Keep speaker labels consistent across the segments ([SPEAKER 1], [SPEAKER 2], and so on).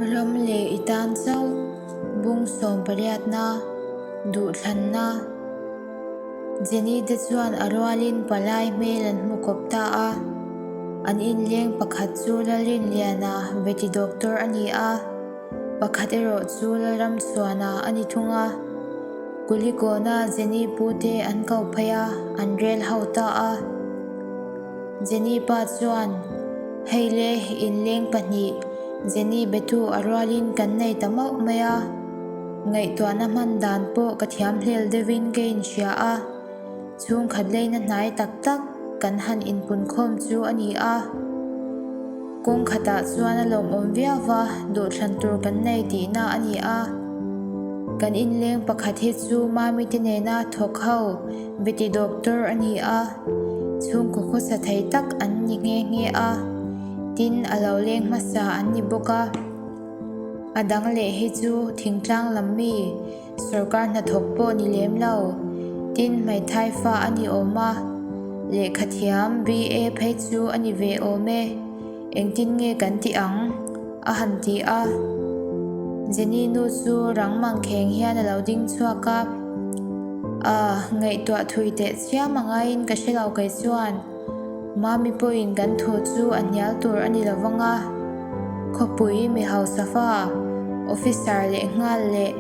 [SPEAKER 1] Ram leh i tan zauh bung sawm pariatna duhthlanna Jenny te chuan a rualin palai hmel an hmu kawp ta a. An inleng pakhat chu Lalrinliana veti doctor a ni a. Pakhat erawh chu Lalramsuana a ni thung a, Kuligawna Jenny pu te an kau phei a, an rel ho ta a. Jenny pa chuan, Hei le, in leng pahnih Jenny betu a rualin kan nei ta mauh mai a, ngaihtuahna hman dan pawh ka thiam hlel deuhin ka inhria a. Chhungkhat leina hnai tak tak kan han inpunkhawm chu a ni a, kawngkhatah chuan a lawmawm viauva duhthlan tur kan nei tihna a ni a. Kan inleng pakhat hi chu Mamite nena thawk ho Betty doctor a ni a, chhungkaw khawsa thei tak an ni nghe nghe a, tin a lo leng hmasa an ni bawk a. A dang leh hi chu thingtlang lam mi. Sorkar hnathawk pawh ni lem lo. Tin, hmaithaifa a ni awm a, lehkha thiam BA phei chu a ni ve awm e. Engtin nge kan tih ang? a han ti a. Jenny nu chu rangmang kheng hian a lo ding chhuak a. Aah, ngaihtuah thui teh chiam a ngaiin ka hre lo kei chuan. Mami pawhin kan thu chu a hnial tur a ni lo vang a, khawpui mi hausafa, officer leh nghal leh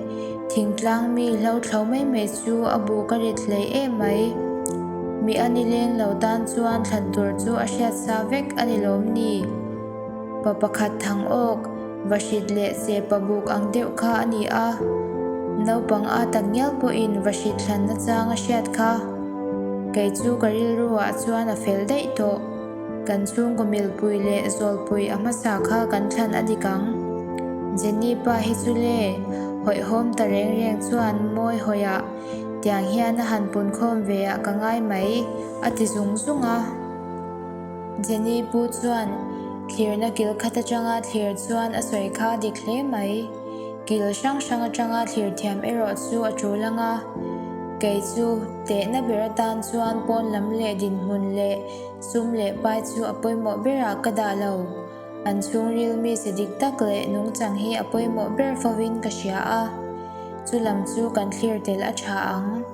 [SPEAKER 1] thingtlang mi hlothlo mai mai chu a buh ka rit hlei em mai. Mi a ni leng lo tan chuan thlan tur chu a hriat sa vek a ni lawm ni? Pa pakhat thang awk. Va hrit leh seh pa buk ang deuh kha a ni a, naupang a tak ngial pawhin va hrit thlanna chang a hriat kha. Kei chu ka rilru ah chuan a fel daih tawh. Kan chhungkaw milpui leh zawlpui a hmasa kha kan thlan a dik ang. Jenny pa hi chu le hawihhawm ta reng reng chuan mawi hawi ah tiang hian a han punkhawm ve ah ka ngai mai a ti zung zung a. Jenny pu chuan thlirna kil khat atanga thlir chuan a sawi kha dik hle mai. Kil hrang hrang atanga thlir thiam erawh chu a tul ang a. Kei chu tehna ber atan chuan pawn lam leh dinhmun leh sum leh pai chu a pawimawh berah ka dah lo. An chhungril mi sa dik tak leh nungchang hi a pawimawh ber fovin ka hria a. Chu lam chu kan thlir tel a tha ang,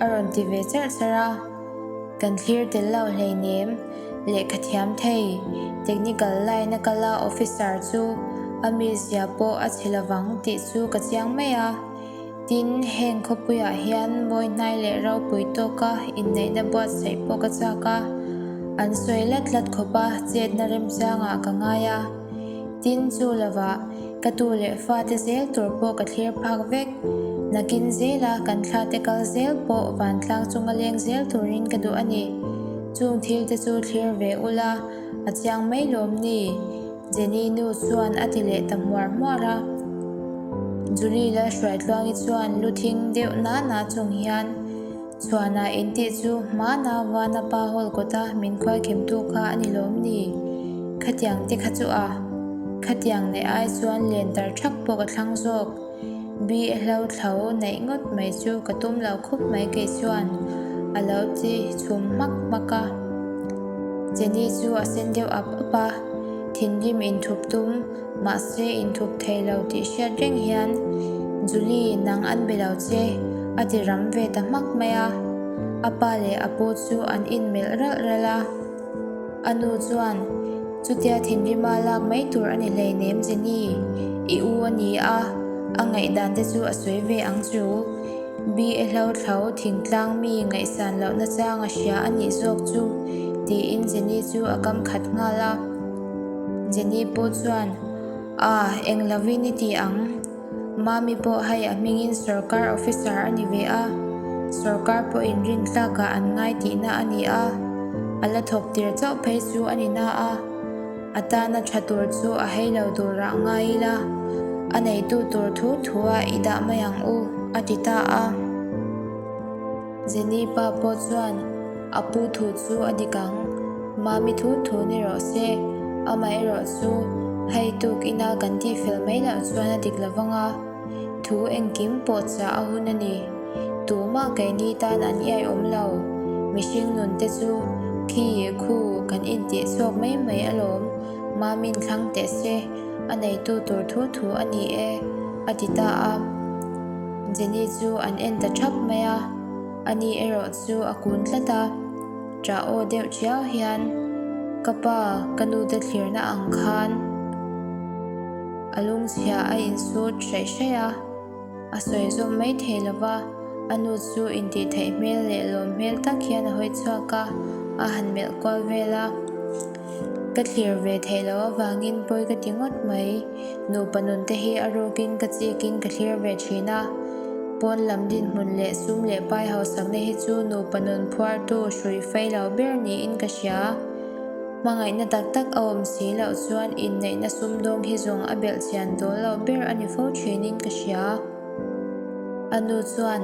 [SPEAKER 1] a rawn ti ve char char a. Kan thlir tel lo hleinem. Lehkha thiam thei. Technical line a kal a officer chu a mi zia pawh a chhe lovang tih chu ka chiang mai a. Tin, heng khawpuiah hian mawihnai leh ropui tawka inneihna buatsaih pawh ka chak a. An sawi lat lat khawpa chetna remchangah ka ngai a. Tin, chu lovah. Ka tu leh fate zel tur pawh ka thlir phak vek. Nakin zela kan thlate kal zel pawh vantlang chunga leng zel turin ka duh a ni. Chung thilte chu thlir ve ula, a chiang mai lawm ni? Jenny nu chuan a ti leh ta hmuar hmuar a. Julie-la hruaitluangi chuan lu thing deuh nana chung hian. Suana intih chu hmana vana pa hawl kawta min khualkemtu kha a ni lawm ni? Khatiang te kha chu a khatiang neih ai chuan len tar thak pawh ka thlang zawk. Bi a hlothlo neih ngawt mai chu ka tum lo khawp mai kei chuan a lo ti chhum hmak hmak a. Jenny chu a sen deuh ap ap a, thinrim inthup tum. Mahse inthup thei lo tih hriat reng hian Juli nang an be lo che a ti ram ve ta hmak mai a. A pa leh a pu chu an inmelh ralh ralh a. A nu chuan, Chutia thinrima lak mai tur a ni hleinem Jenny i u a ni a, a ngaihdan te chu a sawi ve ang chu. Bia hlothlo thingtlang mi ngaihsan lohna chang a hria a nih zawk chu, tiin Jenny chu a kam khat nghal a. Jenny pawh chuan, Ah, eng lovin i tih ang. Mami pawh hei a hmingin sorkar officer a ni ve a, sorkar pawh inrintlakah an ngai tihna a ni a, a la thawk tir chauh phei chu a ni na a, a tana tha tur chu a hei lo durah ngai ila, a neitu tur thu thua i dah mai ang u, a ti ta a. Jenny pa pawh chuan, A pu thu chu a dik ang. Mami thu thu ni rawh se. Amah erawh chu hei tuk ina kan tih fel mai loh chuan a dik lo vang a. Thu engkim pawh chah a hun a ni. Tumah keini tan an i aiawm lo. Mihring nun te chu khi khu kan intih chhuak mai mai alawm. Mami-n thlang teh se, a neitu tur thu thu a ni e, a ti ta a. Jenny chu an en ta thap mai a, ani erawh chu a kun tlat a, ta aw deuh chiau hian ka pa ka nu te thlirna ang khan a lungchhia a insut hreih hreih a, a sawi zawm mai thei lo va, a nu chu intih theih hmel leh lawm hmel tak hian a hawi chhuak a, a han melh kual vel a. Ka thlir ve theih loh avangin pawi ka ti ngawt mai. Nupa nunte hi a rukin ka chikin ka thlir ve thin a. Pawn lam dinhmun leh sum leh pai hausakna hi chu nupa nun phuartu hrui fai lo ber niin ka hria. Hmangaihna tak tak a awm si loh chuan inneihna sumdawng hi zawng a belh chian dawl loh ber a ni fo thinin ka hria. A nu chuan,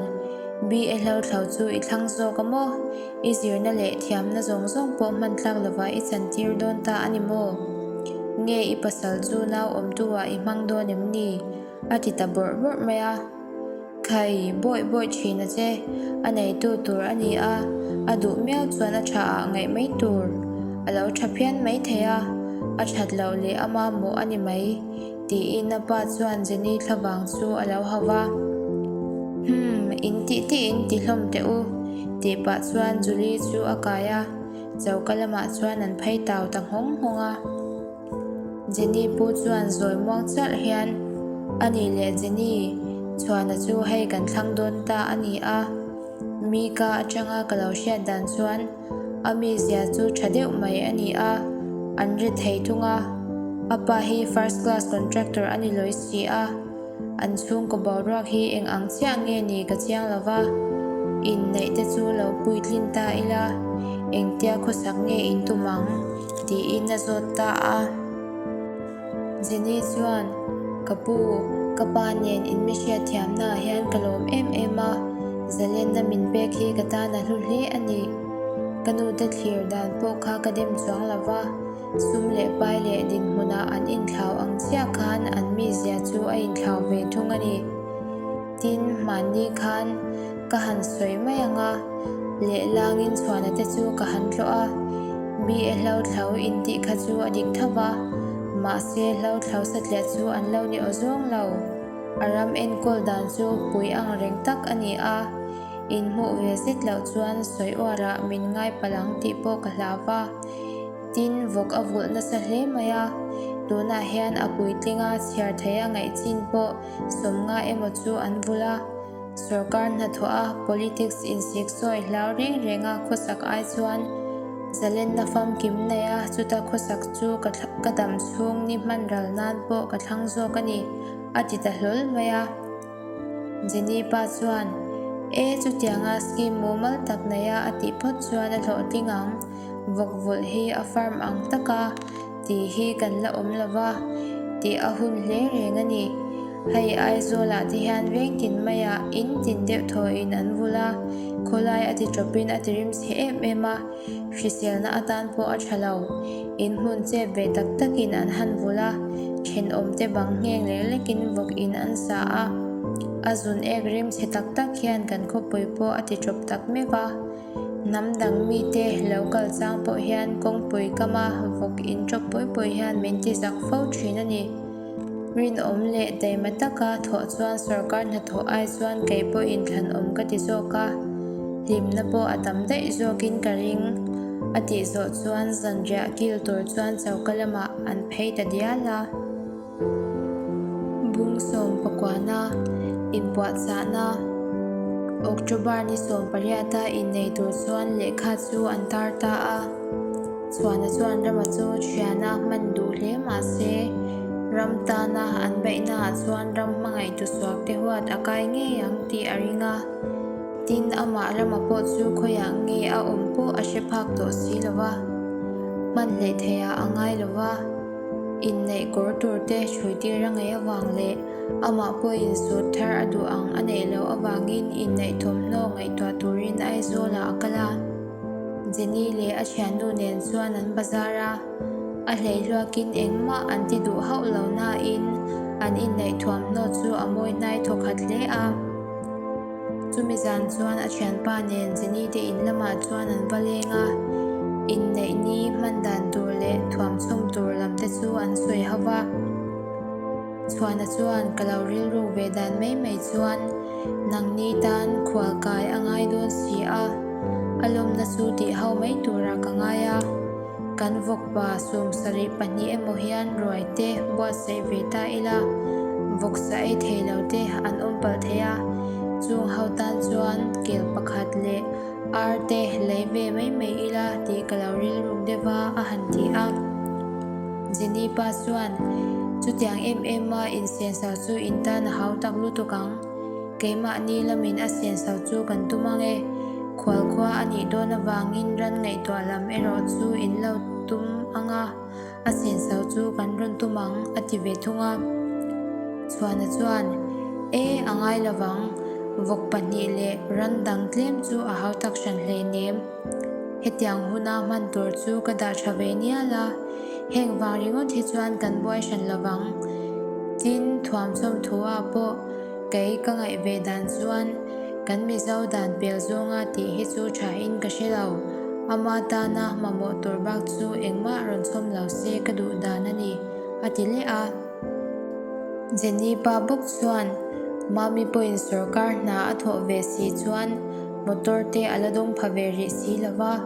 [SPEAKER 1] Bee e hlauthlo chu i thlang zawk a maw? I zirna leh thiamna zawng zawng pawh hman tlak lovah i chan tir dawn ta a ni maw? Nge i pasal chu nau awmtuah i hmang dawn em ni? a ti ta bawrh bawrh mai a. Khai bawih bawih thin a che. A neitu tur a ni a, a duh miau chuan a tha ah ngaih mai tur a lo tha phian mai thei a, a that loh leh a mamawh a ni mai. Tiin a pa chuan Jenny thla vang chu a lo hau va, Hum, in tih tih in ti hlawm teh u. Tih pah chuan Julie chu a kai a, choka lamah chuan an phei tau ta nghawng nghawng a. Jenny pu chuan zawi muang chiah hian, A nih leh Jenny, chhuahna chu hei kan thlang dawn ta a ni a. Mika atanga ka lo hriat dan chuan. A mizia chu tha deuh mai a ni a, an ri thei thung a. A pa hi first class contractor a ni lawi si a, an chhungkaw boruak hi eng ang chiah nge ni ka chiang lo va, inneih te chu lo puitlin ta ila, engtia khawsak nge in tum ang? tiin a zawt ta a. Jenny chuan, Ka pu, ka pa nen in mi hriatthiamnaah hian ka lawm em em a, Zalenna min pek hi ka tan a hlu hle a ni. Ka nu te thlir dan pawh kha ka dem chuang lo va, sum leh pai leh dinhmunah an inthlau ang chiah khan an mizia chu a inthlau ve thung a ni. Tin, mahni khan ka han sawi mai ang a, lehlangin chhuahna te chu ka han tlawh a. BA Hlauthlo intih kha chu a dik thap a, mahse Hlauthlo satliah chu an lo ni aw zawng lo. A ram enkawl dan chu pui ang reng tak a ni a, in hmuh ve zet loh chuan sawi uarah min ngai palh ang tih pawh ka hla va. Tin, vawk a vulh nasa hle mai a, tunah hian a puitling a chhiar theih a ngaih chin pawh sawmnga emaw chu an bul a, sorkar hnathawh a politics insik sawi hlau reng reng a, khawsak ai chuan zalenna famkim nei a, chuta khawsak chu ka dam chhung ni hman ral nan pawh ka thlang zawk a ni, a ti ta hlawl mai a. Jenny pa chuan, E, chutianga scheme mumal tak neia a tih phawt chuan a hlawhtling ang, vawkvulh hi a farm ang tak a, Tih hi kan la awm lo va, tih a hun hle reng a ni. Hei Aizawlah te hian vengtin maia in tin deuh thaw in an vul a, khawlai a ti tawpin a tirim si em em a, hriselna atan pawh a tha lo. In hmun chep ve tak tak in an han vul a, thenawm te bang ngheng lek lek in vawk in an sa a. A zun ek rim chhe tak tak hian kan khawpui pawh a ti tawp tak mek a. Hnam dang mite lo kal chang pawh hian kawngpui kama vawk in ṭawp pawi pawi hian min ti zak fo ṭhin a ni. Rinawm leh daima taka thawh chuan sorkar hnathawh ai chuan kei pawh in tlanawm ka ti zawk a, hlimna pawh a tam daih zawk in ka ring a tih zawh chuan zanriah kil tur chuan choka lamah an phei ta dial a. Bung sawm pakwana inpuahchahna, October ni sawm pariata innei tur chuan lehkha chu an tar ta a. Chhuahna chuan rama chu thiana hman duh hle mah se, ram tana an beihnaah chuan ram hmangaih tusuak te huat a kai ngei ang tih a ring a. Tin, amah rama pawh chu khawiah nge a awm pawh a hre phak tawh si lo va, hman hleh thei ah a ngai lo va. Inneih kawr tur te hrui tir a ngei avang leh amah pawh insut thar a duh ang a neih loh avangin inneih thawmhnaw ngaihtuah turin Aizawlah a kal a. Jenny leh a thiannu nen chuan an bazar a, a hleihluakin engmah an ti duh hauh lo nain an inneih thuamhnaw chu a mawi hnai thawkhat hle a. Chumi zan chuan a thianpa nen Jenny te in lamah chuan an va leng a, inneih ni hman dan tur leh thuam chhum tur lam te chu an sawi ho va. Chhuana chuan ka lo rilru ve dan mai mai chuan nang ni tan khual kai a ngai dawn si a, a lawmna chu tih ho mai tura ka ngai a. Kan vawkpa sawmsarih pahnih emaw hian ruaite buatsaih ve ta ila, vawksah ei thei lo te an awm palh thei a. Chung ho tan chuan kel pakhat leh ar te lei ve mai mai ila tih ka lo rilru deuh a, a han ti a. Jenny pa chuan, Chutiang em em a, insensau chu in tan a hau tak lutuk ang. Keimahni lamin a sensho chu kan tum ang e. Khual khua a nih dawn avangin ran ngaihtuah lam erawh chu in lo tum ang a, a sensho chu kan rawn tum ang, a ti ve thung a. Chhuana chuan, E, a ngai lo vang. Vawk pahnih leh ran dang tlem chu a hautak hran hlei nem. Hetiang huna hman tur chu ka dah tha ve nial a, heng vang ringawt hi chuan kan buai hran lo vang. Tin, thuam chawmthuah pawh kei ka ngaih ve dan chuan kan mizo dan pel zawnga tih hi chu tha in ka hre lo. Ama tana mamawh tur bak chu engmah rawn chawm lo se ka duh dan a ni, a ti leh a. Jenny pa bawk chuan Mami pawhin sorkar hna a thawh ve si chuan motor te a la dawng pha ve rih si lo va,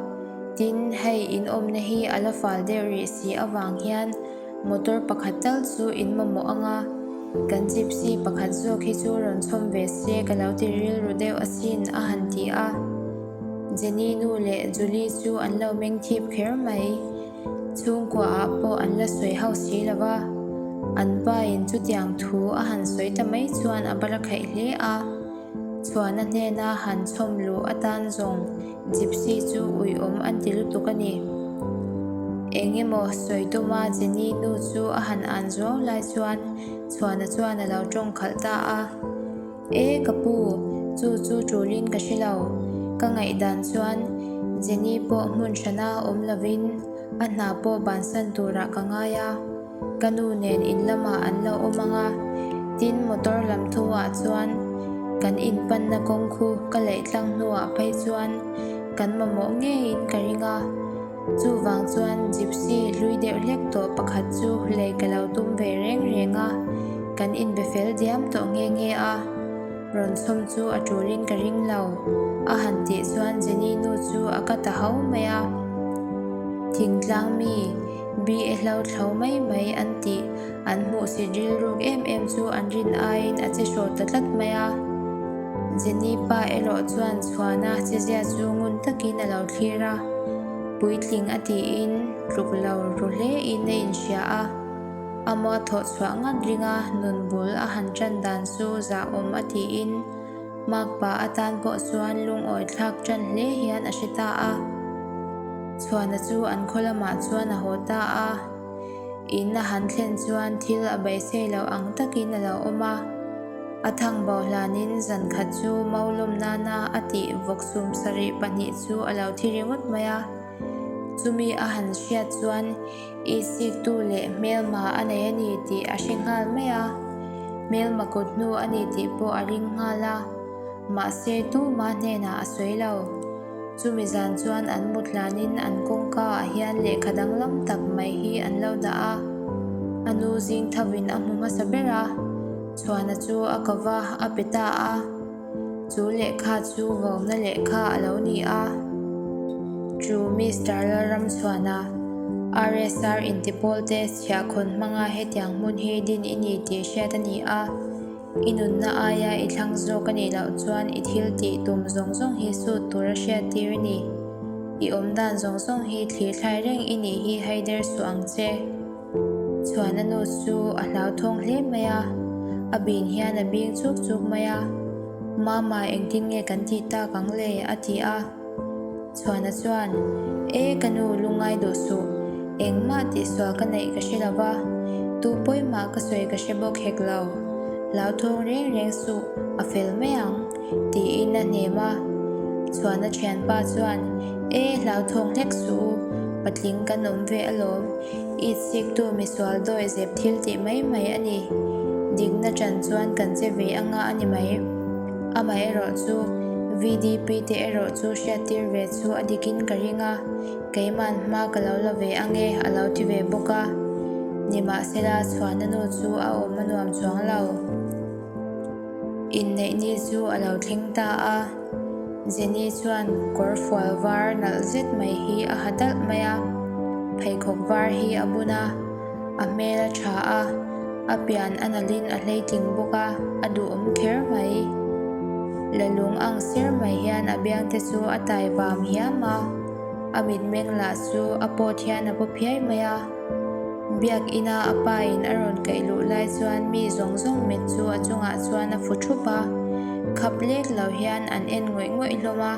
[SPEAKER 1] tin hei in awmna hi a la fal deuh rih si avang hian motor pakhat tal chu in mamawh ang a, kan gypsy pakhat zawk hi chu rawn chhawm ve se ka lo ti rilru deuh asin a han ti a. Jenny nu leh Julie chu an lo mengthip kher mai. Chhungkua ah pawh an la sawi hauh si lo a, an pa in chutiang thu a han sawi ta mai chuan a bala khaih hle a. Chhuana hnen a han chhawm luh atan zawng Gypsy chu ui awm a ti lutuk a ni. Eng emaw sawi tuma Jenny nu chu a han an zuau lai chuan Chhuana chuan a lo tawngkhalh ta a. E ka pu, chu chu tulin ka hre lo. Ka ngaihdan chuan Jenny pawh hmunhrana awm lovin a hna pawh bansan turah ka ngai a. Ka nu nen in lamah an lo awm ang a, tin motor lam thoah chuan kan inpanna kawng khu ka leih tlang hnuah phei chuan kan mamawh ngeiin ka ring a. Chuvang chuan Gypsy hlui deuh hlek tawh pakhat chu lei ka lo tum ve reng reng a, kan inbe fel diam tawh nge nge a, rawn sawm chu a tulin ka ring lo. A han tih chuan Jenny nu chu a ka ta ho mai a, Thingtlang mi Bri e hlauthlo mai mai an tih An hmuh si rilruk em em chu an rin aiin a che hrawh ta tlat mai a. Jenny pa erawh chuan chhuahna chezia chu ngun takin a lo thlir a, puitling a tiin tluk lo ru hlein a inhria a. A maw thawh chhuah ngat ringa nun bul a han tan dan chu zahawm a tiin Mark pa atan pawh chuan lungawi thlak tan hle hian a hre ta a. Chhuahna chu an khaw lamah chuan a haw ta a. Inna han thlen chuan thil a beisei loh ang takin a lo awm a. A thang bau hlanin zan khat chu mo lawm nana a tih vawk sum sarih pahnih chu a lo thi ringawt mai a. Chumi a han hriat chuan i siktu leh hmelma a nei a ni tih a hre nghal mai a. Hmelma kut hnu a ni tih pawh a ring nghal a, mahse tuma hnenah a sawi lo. Chumi zan chuan an mutlan in an kawngka ah hian lehkha danglam tak mai hi an lo dah a, a nu zing tho in a hmu hmasa ber a, chhuahna chu a ka va a pe ta a, chu lehkha chu vawmna lehkha a lo ni a. Chu Mister Lalramsuana RSR intipawl te chhiahkhawn hmanga hetiang hmun hi din i ni tih hriat a ni a. I nunna aia i thlang zawk a nih loh chuan i thil tih tum zawng zawng hi sut tur a hriat tir i ni. I awm dan zawng zawng hi thlir thlai reng i nih hi Haider suh ang che. Chhuahna nu chu a hlau thawng hle mai a, a bin hian a bing chuk chuk mai a. Mama engtin nge kan tih tak ang le? a ti a. Chhuana chuan, E ka nu, lu ngai duh suh. Engmah tih sual ka neih ka hre lova, tu pawimah ka sawi ka hre bawk hek lo. Hlauthawng reng reng suh, a fel mai ang, tiin a hnem a. Chhuana thianpa chuan, E hlauthawng hlek suh u, patling kan awm ve alawm. Eid siktu misual dawi zep thil tih mai mai a ni. Dikna tan chuan kan che ve anga a ni mai. Amah erawh chu VDP te erawh chu hriattir ve chu a dikin ka ring a, keiman hma ka lo la ve ange a lo ti ve bawk a, nimahsela chhuahna nu chu a awm a nuam chuang lo. Inneih ni chu a lo thleng ta a, Jenny chuan kawr fual var nalh zet mai hi a ha dalh mai a, pheikhawk var hi a bun a. A hmel a tha a, a pian a nalhin a hleitling bawk a, a duhawm kher mai. La lung ang ser mai hian a biangte chu a tai vam hiam a, a mitmeng lah chu a pawt hian a paw phiai mai a. Biakina a pa in a rawn kaih luh lai chuan mi zawng zawng met chu a chungah chuan a fu thup a, khap lek lo hian an en ngawih ngawih hlawm a.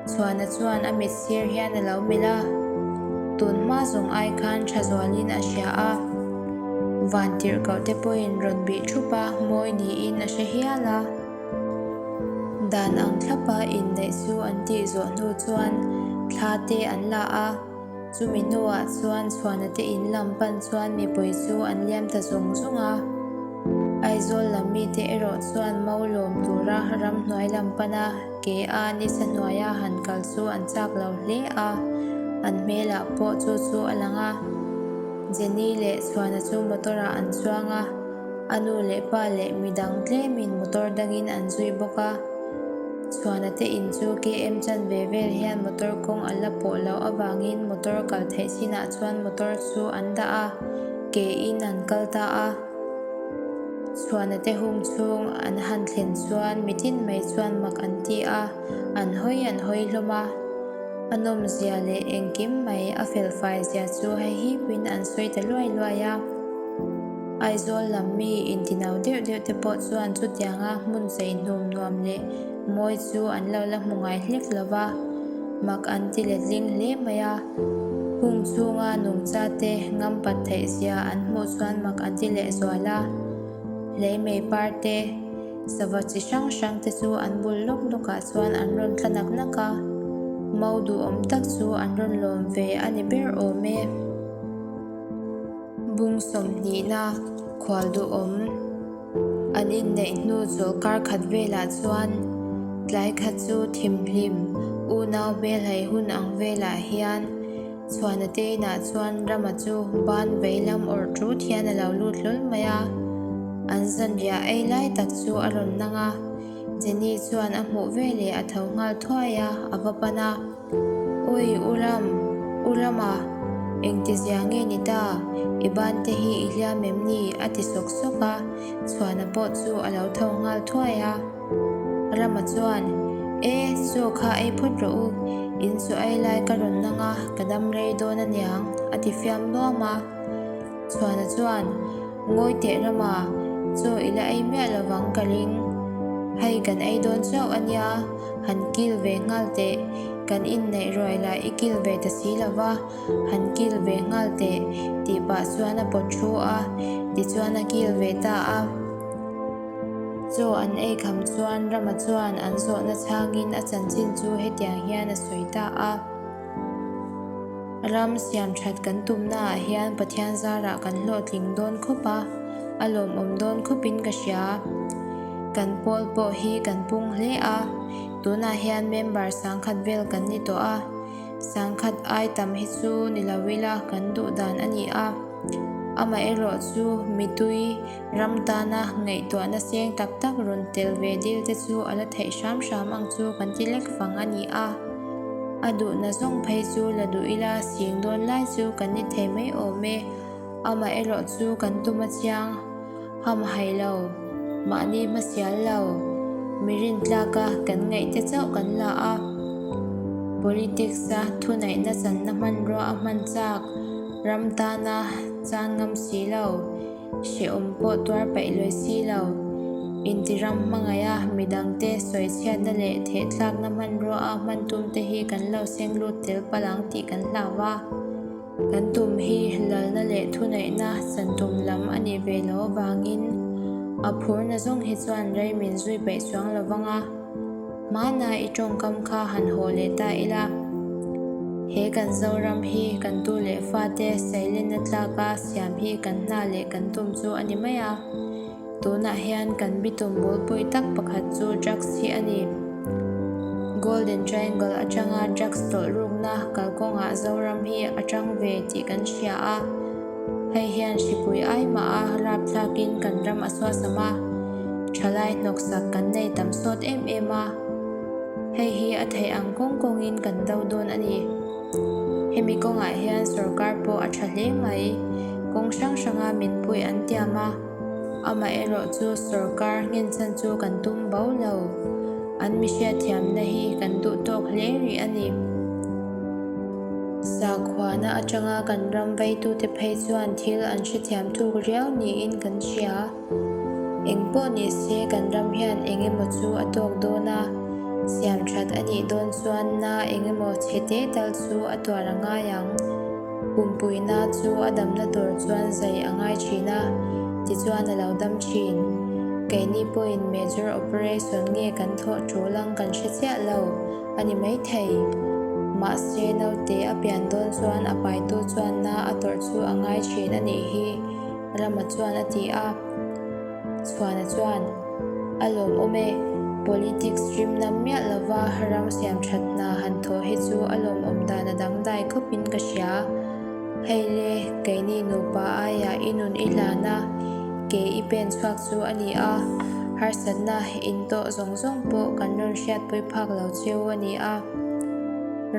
[SPEAKER 1] Suana chuan a mit sir hian a lo melh a, tun hma zawng ai khan tha zualin a hria a, van tirhkohte pawhin rawn bih thup a, mawi niin a hre hial a. Dan ang thlapa inneih chu an tih zawh hnu chuan thla te an la a, chumi hnuah chuan Suana te in lam pan chuan mipui chu an liam ta zung zung a. Aizawl lam mite erawh chuan mo lawm tura ramhnuai lam pana Ke a, ni Sanuaia han kal chu an chak lo hle a, an hmelah pawh chu chu a lang a. Jenny leh Chhuana chu motor-ah an chuang a, a nu leh pa leh mi dang tlemin motor dangin an zui bawk a. Chhuana te in chu KM chan ve vel hian motor kawng a la pawh loh avangin motor kal theih chinah chuan motor chu an dah a, ke in an kal ta a. Chhuahna te hung chhung an han thlen chuan mitin mai chuan mak an ti a, an hawi an hawi hlawm a. A nawmzia leh engkim mai a felfaizia chu hei hi puiin an sawi ta luai luai a. Aizawl lam mi intinau deuh deuh te pawh chuan chutianga hmun cheihnum nuam leh. Mawi chu an lo la hmu ngai hlek lo va, mak an ti let ding hle mai a. Hung chunga nungcha te ngam pat theih zia an hmuh chuan mak an ti leh zual a. Hleimei par te, sava chi hrang hrang te chu an bul lawk lawkah chuan an rawn tla nak nak a. Mo duhawm tak chu an rawn lawm ve a ni ber awm e. Bung sawmhnihna, khual duhawm. An inneih hnu chaw kar khat velah chuan tlai kha chu thim hlim unau Belhai hun ang velah hian chhuahna tein ah chuan Rama chu ban vei lam awrh ṭut hian a lo lut hlawl mai a. An zanriah ei lai tak chu a rawn nang a. Jenny chuan a hmuh veleh a tho nghal thuai a, a va pan a. Ui u lam, u lama engti zia nge ni ta, i bante hi i hliam em ni? a ti sawk sawk a, chhuahna pawh chu a lo tho nghal thuai a. Rama chuan, E, chaw kha ei phawt rawh u, in chaw ei lai ka rawn nang a, ka dam rei dawn a niang, a ti fiam nuam a. Chhuahna chuan. Ngawi teh rama, chaw ila ei miah lovang ka ring. Hei kan ei dawn chauh a nia, han kil ve nghal teh. Kan inneih ruai lah i kil ve ta si lova, han kil ve nghal teh, tih pah chuan a pawt thu a, tichuan a kil ve ta a. Chaw an ei kham chuan rama chuan an zawhna chhangin a chanchin chu hetiang hian a sawi ta a. Ram siam that kan tumna ah hian Pathian zar ah kan hlawhtling dawn khawp a, a lawmawm dawn khawp in ka hria. Kan Paul pawh hi kan pung hle a, tun ah hian member sangkhat vel kan ni tawh a, sangkhat ai tam hi chu ni lo ila kan duh dan a ni a. Amaherawh chu mitui. Ram tana ngaihtuahna seng tak tak rawn tel ve dil te chu a la theih hram hram ang chu kan ti lek fang a ni a. A duhna zawng phei chu la duh ila sing dawn lai chu kan ni thei mai awm e. Amah erawh chu kan tum a chiang ham hai lo, mahni hmasial lo, mirin tlaka kan ngaih te chauh kan la a. Politics-a thunaihna channa hmanrua a hman chak ram tana chan ngam si lo. Hrehawm pawh tuar paih luai si lo. Intiram hmangaia midangte sawi chhiatna leh thehthlakna hmanruaa hman tumte hi kan lo senglut tel palh ang tih kan hlau a. Kan tum hi lalna leh thuneihna chantum lam a nih ve lo avangin a phurna zawng hi chuan rei min zui paih chuang lovang a. Mahna i tawngkam kha han haw leh ta ila, he kan Zoram hi kan tu leh fate Sailena tlaka siam hi kan hna leh kan tum chu a ni mai a. Tunah hian kan bitum bulpui tak pakhat chu drugs hi a ni. Golden Triangle atanga drugs tawlh rukna kalkawngah Zoram hi a tang ve tih kan hria a. Hei hian hripui ai mah a rap thlak in kan ram a suasam a, tha lai hnawk sak kan nei tam sawt em em a. Hei hi a theih ang kawng kawng in kan do dawn a ni. Hemi kawngah hian sorkar pawh a tha hle mai, kawng hrang hrang a min puih an tiam a. Amah erawh chu sorkar nghenchhan chu kan tum bo lo. An mihriat thiamna hi kan duh tawk hle rih a ni. Sakhuana atanga kan ramvaitute phei chuan thil an hrethiam thuk riau niin kan hria. Eng pawh ni se kan ram hian eng emaw chu a tawk dawn a, siamthat a nih dawn chuan na eng emaw chhe te tal chu a tuar a ngai ang. Pumpuina chu a damna tur chuan zai a ngai thin a, tichuan a lo dam thin. Keini pawhin major operation nge kan thawh ṭul ang kan hre chiah lo a ni maithei. Mahse naute a pian dawn chuan a paitu chuan na a tawrh chu a ngai thin a nih hi, Rama chuan a ti a. Chhuana chuan, A lawmawm e, politics rimna miah lova ram siam that hna han thawh hi chu a lawmawm dan a dangdai khawpin ka hria. Hei le, keini nupa aia i nun i hlan a, ke i pen chhuak chu a ni a, harsatna in tawh zawng zawng pawh kan rawn hriat pawih phak lo cheu a ni a.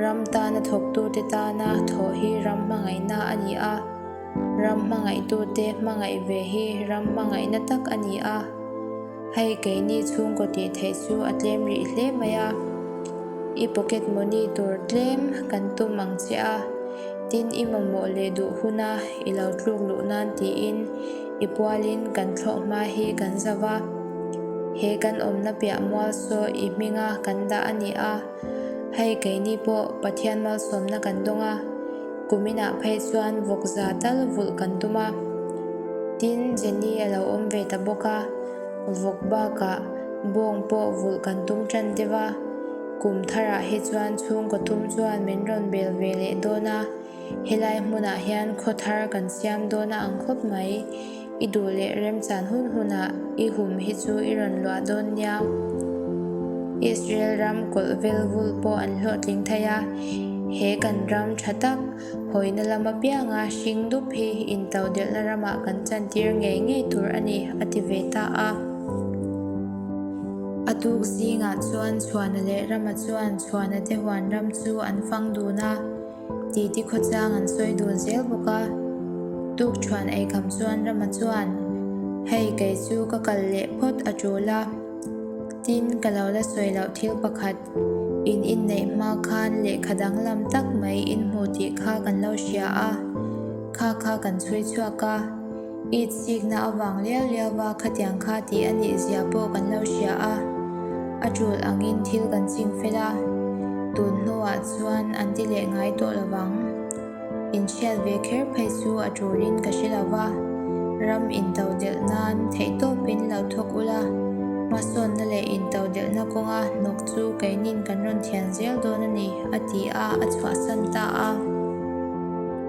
[SPEAKER 1] Ram tana thawktute tana thawh hi ram hmangaihna a ni a. Ram hmangaihtute hmangaih ve hi ram hmangaihna tak a ni a, hei keini chhungkaw tih theih chu a tlem rih hle mai a, i pocket money tur tlem kan tum ang che a, tin i mamawh leh duh huna i lo tluk luh nan tiin i pualin kan thlawh hma hi kan zau a, he kan awmna piah mual saw i hminga kan dah a ni a. Hei keini pawh Pathian malsawmna kan dawng a, kum inah phei chuan vawk za tal vulh kan tum a. Tin, Jenny a lo awm ve ta bawk a, vawk bakah bawng pawh vulh kan tum ṭan deuh a. Kum tharah hi chuan chhungkaw thum chuan min rawn bel ve leh dawn a. Helai hmunah hian khaw thar kan siam dawn a ang khawp mai. I duh leh remchan hun hunah i hum hi chu i rawn luah dawn nia. Israel ram kawlh vel vul pawh an hlawhtling thei a, he kan ram tha tak hawina lam apianga hring dup hi intaudelhna ramah kan chantir ngei ngei tur a ni, a ti ve ta a. A tuk zingah chuan chhuahna leh rama chuan chhuahna te huan ram chu an fang dun a. titi khawchang an sawi dun zel bawk a, Tukṭhuan eikham chuan Rama chuan, Hei kei chu ka kal leh phawt a ṭul a, tin ka lo la sawi loh thil pakhat, in inneih hma khan lehkha danglam tak mai in hmu tih kha kan lo hria a, kha kha kan chhui chhuak a, I chikna a vang liau liau a, khatiang kha tih a nih zia pawh kan lo hria a, a tul angin thil kan ching fel a, tun hnuah chuan an ti leh ngai tawh lo vang. Inhriat ve kher phei chu a tulin ka hre lo va, ram into delh nan theih tawpin lo thawk ula, hmasawnna leh into delhna kawnga hnawk chu keinin kan rawn thian zel dawn a ni, a ti a, a chhuahsan ta a.